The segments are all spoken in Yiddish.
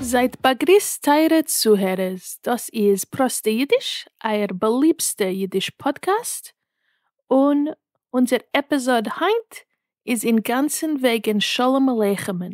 זייט באגריסט טייערע צוהערערס, דאס איז פראסטע אידיש, אייער באליבסטע אידיש פאדקעסט, און אונזער עפיזאד היינט איז אינגאנצן וועגן שלום עליכם'ן,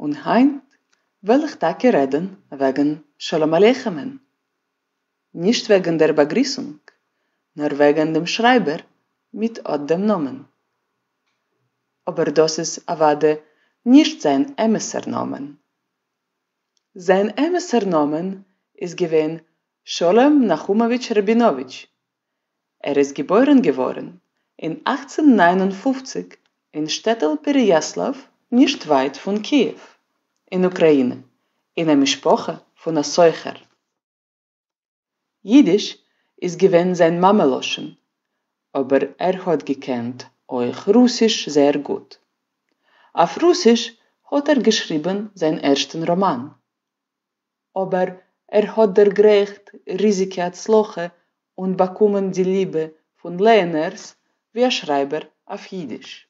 און היינט וועל איך טאקע רעדן וועגן שלום עליכם'ען, נישט וועגן דער באגריסונג, נאר וועגן דעם שרייבער מיט אט דעם נאמען. אבער דאס איז אוודאי נישט זיין אמת'ער נאמען. זיין אמת'ער נאמען איז געווען שלום נחומאוויטש ראבינאוויטש, ער איז געבוירן געווארן אין אַכצן נײַן און פֿופֿציק אין שטעטל פּעריאַסלאַוו נישט ווייט פון קיעוו אין אוקראינע אין א משפחה פון א סוחר. יידיש איז געווען זיין מאמע לשון אבער ער האט געקענט אויך רוסיש זייער גוט. אויף רוסיש האט ער געשריבן זיין ערשטן ראמאן. אבער ער האט דערגרייכט ריזיגע הצלחה און באקומען די ליבע פון לייענערס ווי א שרייבער אויף אידיש.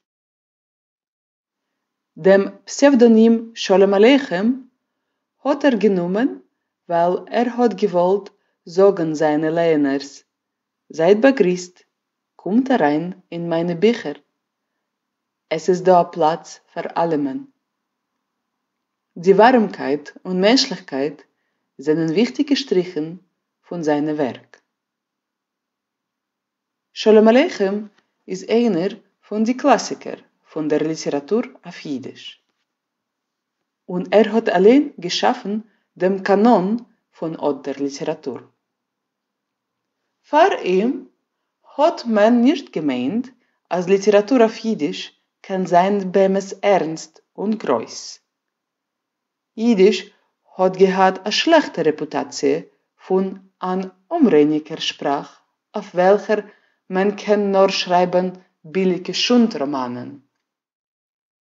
דעם פסעוודאנים שלום עליכם האט ער גענומען ווייל ער האט געוואלט זאגן זיינע לייענערס, זייט באגריסט, קומט אריין אין מיינע ביכער, עס איז דא א פלאץ פאר אלעמען. די ווארעמקייט און מענטשליכקייט זענען וויכטיגע שטריכן פון זיינע ווערק. שלום עליכם איז איינער פון די קלאסיקער פון דער ליטעראטור אויף יידיש, און ער האט אליין געשאפן דעם קאנאן פון אט דער ליטעראטור. פאר אים האט מען נישט געמיינט אז ליטעראטור אויף אידיש קען זיין באמת ערנסט און גרויס. אידיש האט געהאט א שלעכטע רעפוטאציע פון אן אומרייניגער שפראך אויף וועלכער מען קען נאר שרייבן ביליגע שונד-ראמאנען.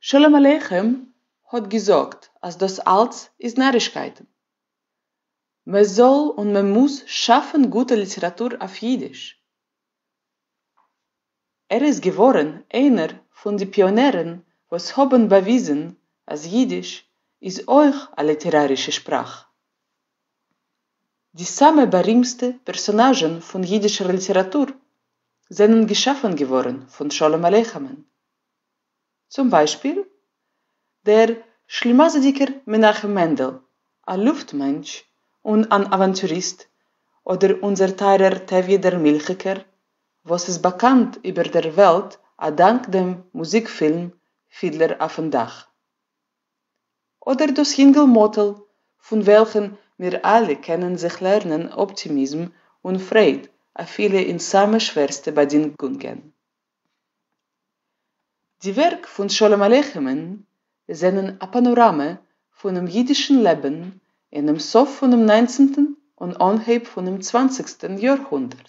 שלום עליכם האט געזאגט אז דאס אלץ איז נארישקייטן. מען זאל און מען מוז שאפן גוטע ליטעראטור אויף אידיש. ער איז געווארן איינער פון די פיאנערן וואס האבן באוויזן אז אידיש איז אויך א ליטערארישע שפראך. די סאמע בארימסטע פערסאנאזשען פון אידישער ליטעראטור זענען געשאפען געווארען פון שלום עליכם'ען. צום ביישפיל דער שלימאזידיגער מנחם מענדל, א לופט מענטש און אן אוואנטוריסט, אדער אונזער טייערער טעוויע דער מילכיגער, וואס איז באקאנט איבער דער וועלט א דאנק דעם מוזיק-פילם פידלער אויפן דאך. אדער דאס יונגל מאטל פון וועלכן מיר אלע קענען זיך לערנען אפטימיזם און פרייד אפילו אין סאמע שווערסטע באדינגונגען. די ווערק פון שלום עליכם'ן זענען א פאנאראמע פונעם אידישן לעבן אינעם סוף פונעם ניינצנטן און אנהייב פונעם צוואנציגסטן יאר-הונדערט.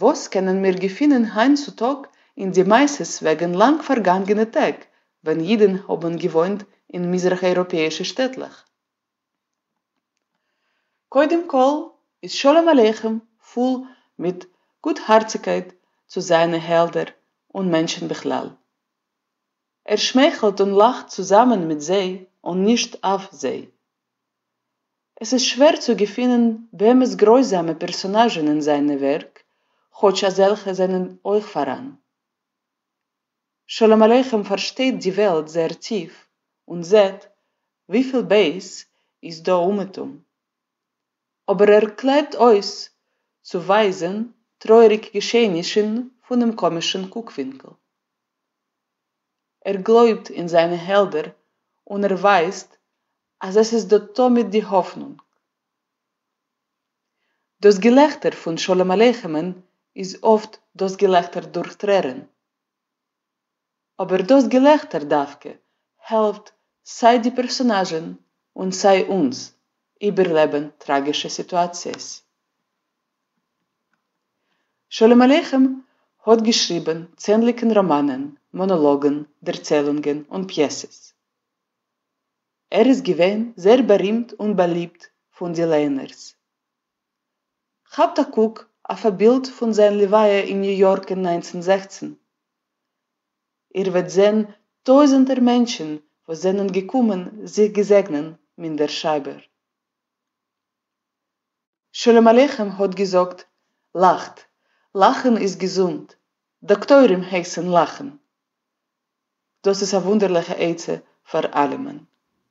וואס קענען מיר געפינען היינט צו טאג אין די מעשות וועגן לאנג פארגאנגענע טעג ווען אידן האבן געוואוינט אין מזרח אייראפעאישע שטעטלעך? קודם כל איז שלום עליכם פול מיט גוטהארציגקייט צו זיינע העלדער און מענטשן בכלל. ער שמייכלט און לאכט צוזאמען מיט זיי און נישט אויף זיי. עס איז שווער צו געפינען באמת גרויזאמע פערסאנאזשן אין זיינע ווערק, כאטש אזעלכע זענען אויך פאראן. שלום עליכם פארשטייט די וועלט זייער טיף און זעט וויפיל בייס איז דא אומעטום. אבער ער קלעבט אויס צו ווייזען טרויעריג געשעענישן פונעם קאמישן קוקווינקל. ער גלויבט אין זיינע העלדער און ער ווייסט אז עס איז דא תמיד די האפנונג. דאס געלעכטער פון שלום עליכם'ען איז אפט דאס געלעכטער דורך טרערען. אבער דאס געלעכטער דווקא העלפט סיי די פערסאנאזשען און סיי אונז איבערלעבען טראגישע סיטואציעס. שלום עליכם האט געשריבן, צענדליגן ראמאנען, מאנאלאגן, דערציילונגען און פיעסעס. ער איז געווען זעהר בארימט און באליבט פון די ליינערס. כאפט א קוק אויף א בילד פון זיין לוויה אין ניו יארק אין נײַנצן זעכצן. איר וועט זעהן טויזענטער מענטשן וואס זענען געקומען זיך געזעגנען מין דער שרייבער. שלום עליכם האט געזאגט, לאכט, לאכן איז געזונט, דאקטוירים הייסן לאכן. דאס איז א וואונדערליכע עצה פאר אלעמען,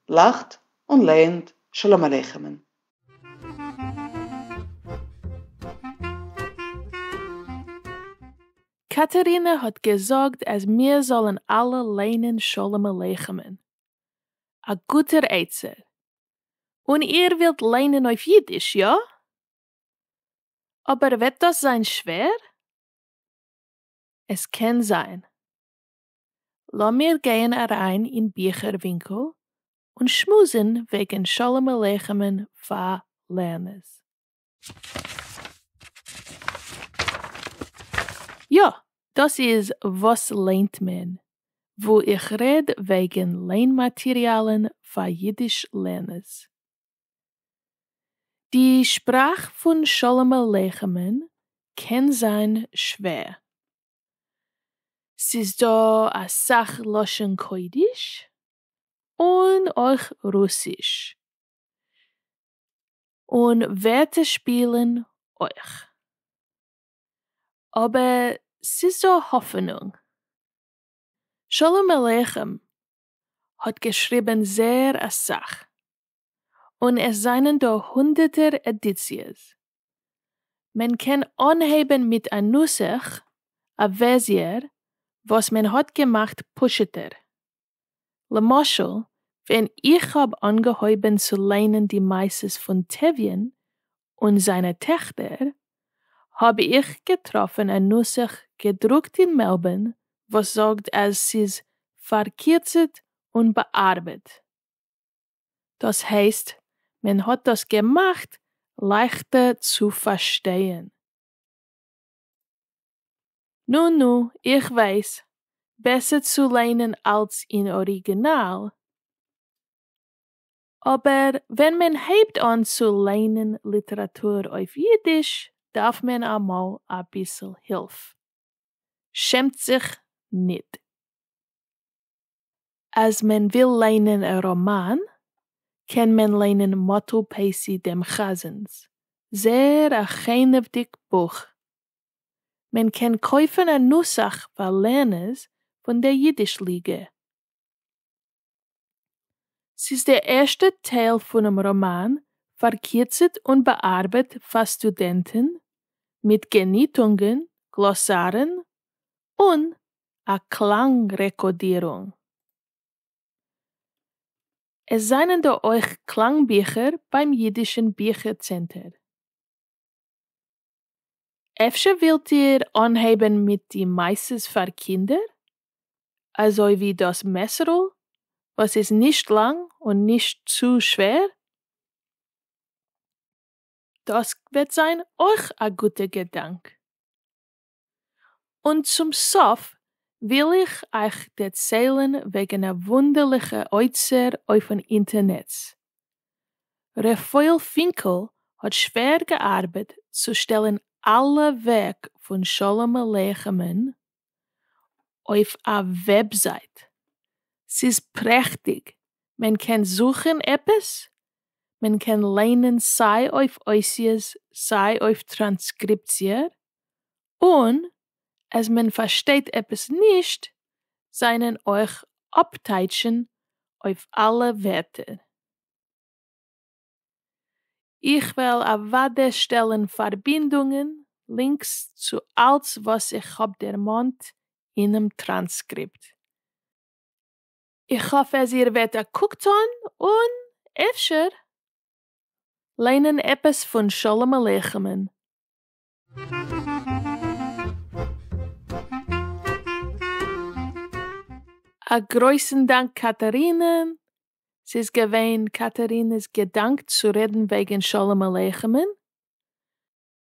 לאכט און לערנט שלום עליכם'ן. קאטערינע האט געזאגט אז מיר זאלן אלע לערנען שלום עליכם'ן. א גוטער עצה, און איר ווילט ליינען אויף אידיש, יא? אבער וועט דאס זיין שווער? עס קען זיין. לאמיר גייען אריין אין ביכער ווינקל און שמועסן וועגן שלום עליכם'ן פאר לערנערס. יא, דאס איז וואס ליינט מען, וואו איך רעד וועגן ליין מאטריאלן פאר אידיש לערנערס. די שפראך פון שלום עליכם'ן קען זיין שווער. ס'איז דא אסאך לשון קודש, און אויך רוסיש. און ווערטע שפילן אויך. אבער ס'איז דא האפענונג. שלום עליכם האט געשריבן, זר אסאך, און עס זענען דא הונדערטער עדיציעס. מען קען אנהייבן מיט א נוסח, א ווערסיער, וואס מען האט געמאכט פשוטער. למשל ווען איך האב אנגעהויבען צו ליינען די מעשות פון טביון און זיינע טעכטער, האב איך געטראפען א נוסח געדרוקט אין מעלבערן וואס זאגט אז ס'איז פארקירצעט און באארבעט. דאס הייסט מען האט דאס געמאכט לייכטער צו פארשטייען. נו נו, איך ווייס, בעסער צו ליינען אלץ אין אריגינאל, אבער ווען מען הייבט אן צו ליינען ליטעראטור אויף אידיש דארף מען אמאל אביסל הילף. שעמט זיך ניט. אז מען וויל ליינען א ראמאן קען מען ליינען מאטל פעסי דעם חזן'ס זעהר א חנ'וודיג בוך. מען קען קויפן א נוסח פאר לערנערס פון דער אידיש ליגע. ס'איז דער ערשטע טייל פונעם ראמאן פארקירצעט און באארבעט פאר סטודענטן, מיט געניטונגען, גלאסארן, און א קלאנג רעקאדירונג. עס זענען דא אויך קלאנג ביכער ביים אידישען ביכער צענטער. אפשר ווילט איר אנהייבען מיט די מעשות פאר קינדער, אזוי ווי דאס מעשר'ל וואס איז נישט לאנג און נישט צו שווער? דאס וועט זיין אויך א גוטע געדאנק. און צום סוף וויל איך אייך דערציילן וועגן א וואונדערליכע אוצר אויפן אינטערנעץ. רפאל פינקל האט שווער געארבעט צו שטעלן אלע ווערק פון שלום עליכם'ן אויף א וועבזייט. ס'איז פרעכטיג, מען קען זוכן עפעס, מען קען ליינען סיי אויף אותיות סיי אויף טראנסקריפציער, און אז מען פארשטייט עפעס נישט זענען אויך אפטייטשן אויף אלע ווערטער. איך וועל אוודאי שטעלן פארבינדונגען, לינקס, צו אלץ וואס איך האב דערמאנט אינעם טראנסקריפט. איך האף אז איר וועט א קוק טון און, אפשר, ליינען עפעס פון שלום עליכם'ן. א גרויסן דאנק קאטארינע, ס'איז געווען קאטארינע'ס געדאנק צו רעדן וועגן שלום עליכם'ן.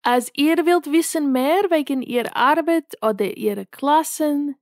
אז איר ווילט וויסן מער וועגן איר ארבעט אדער אירע קלאסן,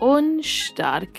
און שטארק.